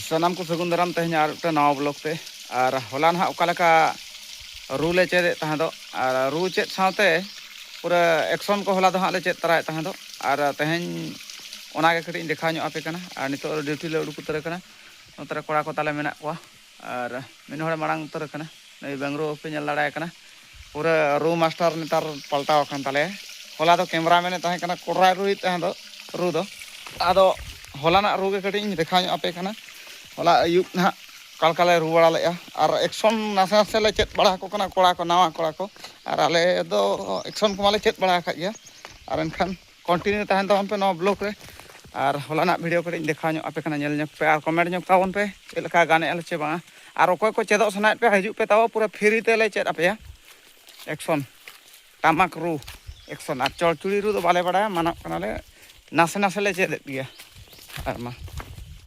ᱥᱟᱱᱟᱢ ᱠᱚ ᱥᱟᱹᱜᱩᱱ ᱫᱟᱨᱟᱢ ᱛᱮᱦᱮᱧᱟᱜ ᱟᱨ ᱢᱤᱫᱴᱟᱝ ᱱᱟᱣᱟ ᱵᱞᱚᱜᱽ ᱛᱮ ᱟᱨ ᱦᱚᱞᱟ ᱱᱟᱦᱟᱜ ᱚᱠᱟ ᱞᱮᱠᱟ ᱨᱩ ᱞᱮ ᱪᱮᱫ ᱮᱫ ᱛᱟᱦᱮᱸ ᱫᱚᱜ ᱟᱨ ᱨᱩ ᱪᱮᱫ ᱥᱟᱶᱛᱮ ᱯᱩᱨᱟᱹ ᱮᱠᱥᱚᱱ ᱠᱚ ᱦᱚᱞᱟ ᱫᱚ ᱦᱟᱸᱜ ᱞᱮ ᱪᱮᱫ ᱛᱟᱨᱟᱭᱮᱫ ᱛᱟᱦᱮᱸ ᱫᱚᱜ ᱟᱨ ᱛᱮᱦᱮᱧ ᱚᱱᱟ ᱜᱮ ᱠᱟᱹᱴᱤᱡ ᱤᱧ ᱫᱮᱠᱷᱟᱣ ᱧᱚᱜ ᱟᱯᱮ ᱠᱟᱱᱟ ᱟᱨ ᱱᱤᱛᱚᱜ ᱫᱚ ᱰᱤᱭᱩᱴᱤ ᱞᱮ ᱩᱰᱩᱠ ᱩᱛᱟᱹᱨ ᱟᱠᱟᱱᱟ ᱱᱚᱛᱮ ᱨᱮ ᱠᱚᱲᱟ ᱠᱚ ᱛᱟᱞᱮ ᱢᱮᱱᱟᱜ ᱠᱚᱣᱟ ᱟᱨ ᱢᱤᱫ ᱦᱚᱲᱮ ᱢᱟᱲᱟᱝ ᱩᱛᱟᱹᱨ ᱟᱠᱟᱱᱟ ᱱᱩᱭ ᱵᱮᱝᱨᱩ ᱵᱟᱯᱮ ᱧᱮᱞ ᱫᱟᱲᱮᱭᱟᱭ ᱠᱟᱱᱟ ᱯᱩᱨᱟᱹ ᱨᱩ ᱢᱟᱥᱴᱟᱨ ᱱᱮᱛᱟᱨ ᱯᱟᱞᱴᱟᱣ ᱟᱠᱟᱱ ᱛᱟᱞᱮᱭᱟ ᱦᱚᱞᱟ ᱫᱚ ᱠᱮᱢᱨᱟ ᱢᱮᱱᱮᱫ ᱛᱟᱦᱮᱸ ᱠᱟᱱᱟ ᱠᱚᱲᱟᱭ ᱨᱩᱭᱮᱫ ᱛᱟᱦᱮᱸ ᱫᱚ ᱨᱩ ᱫᱚ ᱟᱫᱚ ᱦᱚᱞᱟᱱᱟᱜ ᱨᱩ ᱜᱮ ᱠᱟᱹᱴᱤᱡ ᱤᱧ ᱫᱮᱠᱷᱟᱣ ᱧᱚᱜ ᱟᱯᱮ ᱠᱟᱱᱟ ᱦᱚᱞᱟ ᱟᱹᱭᱩᱵ ᱱᱟᱦᱟᱜ ᱚᱠᱟ ᱞᱮᱠᱟ ᱞᱮ ᱨᱩ ᱵᱟᱲᱟ ᱞᱮᱫᱼᱟ ᱟᱨ ᱮᱠᱥᱚᱱ ᱱᱟᱥᱮ ᱱᱟᱥᱮ ᱞᱮ ᱪᱮᱫ ᱵᱟᱲᱟ ᱟᱠᱚ ᱠᱟᱱᱟ ᱠᱚᱲᱟ ᱠᱚ ᱱᱟᱣᱟ ᱠᱚᱲᱟ ᱠᱚ ᱟᱨ ᱟᱞᱮ ᱫᱚ ᱮᱠᱥᱚᱱ ᱠᱚᱢᱟᱞᱮ ᱪᱮᱫ ᱵᱟᱲᱟ ᱟᱠᱟᱫ ᱜᱮᱭᱟ ᱟᱨ ᱮᱱᱠᱷᱟᱱ ᱠᱚᱱᱴᱤᱱᱤᱭᱩ ᱛᱟᱦᱮᱱ ᱛᱟᱵᱚᱱ ᱯᱮ ᱱᱚᱣᱟ ᱵᱞᱚᱠ ᱨᱮ ᱟᱨ ᱦᱚᱞᱟᱱᱟᱜ ᱵᱷᱤᱰᱭᱳ ᱠᱟᱹᱴᱤᱡ ᱤᱧ ᱫᱮᱠᱷᱟᱣ ᱧᱚᱜ ᱟᱯᱮ ᱠᱟᱱᱟ ᱧᱮᱞ ᱧᱚᱜᱽ ᱯᱮ ᱟᱨ ᱠᱚᱢᱮᱱᱴ ᱧᱚᱜᱽ ᱛᱟᱵᱚᱱ ᱯᱮ ᱪᱮᱫ ᱞᱮᱠᱟ ᱜᱟᱱᱮᱜᱼᱟ ᱞᱮ ᱪᱮ ᱵᱟᱝᱟ ᱟᱨ ᱚᱠᱚᱭ ᱠᱚ ᱪᱮᱫᱚᱜ ᱥᱟᱱᱟᱭᱮᱫ ᱯᱮᱭᱟ ᱦᱤᱡᱩᱜ ᱯᱮ ᱛᱟᱵᱚ ᱯᱩᱨᱟᱹ ᱯᱷᱤᱨᱤ ᱛᱮᱞᱮ ᱪᱮᱫ ᱟᱯᱮᱭᱟ ᱮᱠᱥᱚᱱ ᱴᱟᱢᱟᱠ ᱨᱩ ᱮᱠᱥᱚᱱ ᱟᱨ ᱪᱚᱲᱪᱩᱲᱤ ᱨᱩ ᱫᱚ ᱵᱟᱞᱮ ᱵᱟᱲᱟᱭᱟ ᱢᱟᱱᱚᱜ ᱠᱟᱱᱟᱞᱮ ᱱᱟᱥᱮ ᱱᱟᱥᱮ ᱞᱮ ᱪᱮᱫ ᱮᱫ ᱜᱮᱭᱟ ᱟᱨ ᱢᱟ